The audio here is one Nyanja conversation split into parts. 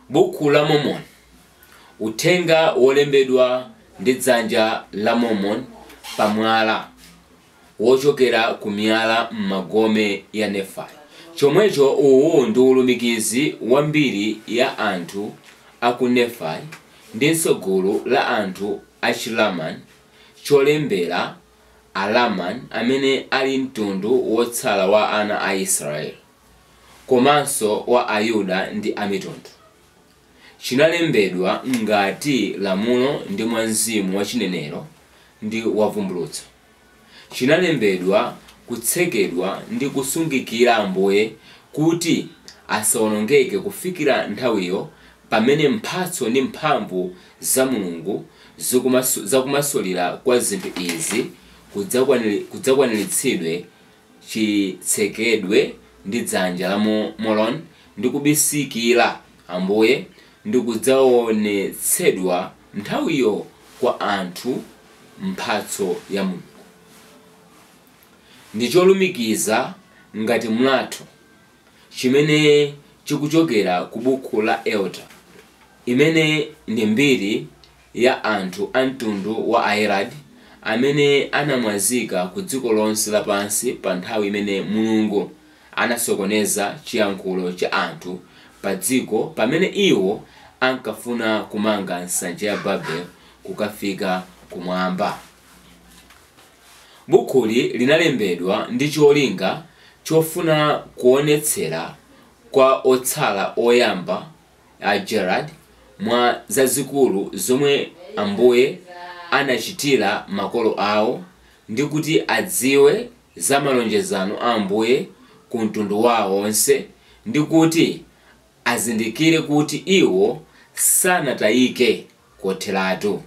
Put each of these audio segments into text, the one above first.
Bukhu la Mormon, uthenga wolembedwa ndi dzanja la Mormon pa mwala, wochokera ku miyala m'magome ya Nephi. Chomwecho uwu ndi ulumikizi wa mbiri ya anthu aku Nephi ndinso gulu la anthu achi Laman, cholembera, Alaman, amene ali mtundu wotsala wa ana a Israeli. komanso wa Ayuda ndi Amitundu. Chinalembedwa ngati lamulo ndi mwa mzimu wa chinenero ndi wa vumbulutso. Chinalembedwa kutsekedwa ndi kusungikira Ambuye kuti asawonongeke kufikira nthawiyo pamene mphatso ndi mphamvu za Mulungu za kumasulira kwa zinthu izi kudzakwaniritsidwe chitsekedwe ndi dzanja la Moroni, ndi kubisikira Ambuye, ndi kudzaonetsedwa nthawiyo kwa anthu mphatso ya Mulungu. Ndi cholumikiza ngati mlatho chimene chikuchokera ku Bukhu la Ether, imene ndi mbiri ya anthu a mtundu wa Yaredi amene anamwazika ku dziko lonse lapansi pa nthawi imene Mulungu anasokoneza chiyankhulo cha anthu pa dziko pamene iwo ankafuna kumanga nsanja ya Babel kukafika kumwamba. Bukhuli linalembedwa ndi cholinga chofuna kuonetsera kwa otsala oyamba a Gerard, mwa zazikulu zomwe Ambuye anachitira makolo awo, ndi kuti adziwe za malonjezano a Ambuye ku mtundu wawo onse, ndi kuti azindikire kuti iwo sanatayike kotheratu.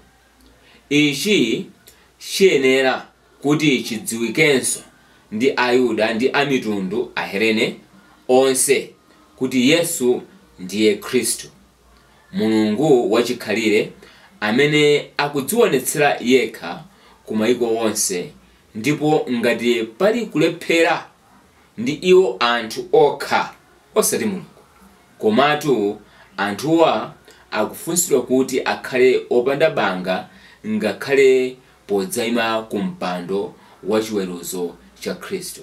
Ichi chiyenera kuti chidziwikenso ndi Ayuda ndi Amitundu, Ahelene, onse, kuti Yesu ndiye Khristu, Mulungu wachikhalire, amene akudziwonetsera yekha ku maiko onse, ndipo ngati pali kulephera ndi iwo anthu okha, osati Mulungu, komatu anthuwa akufunsidwa kuti akhale opanda banga ngakhale podzaima ku mpando wachiweruzo cha Khristu.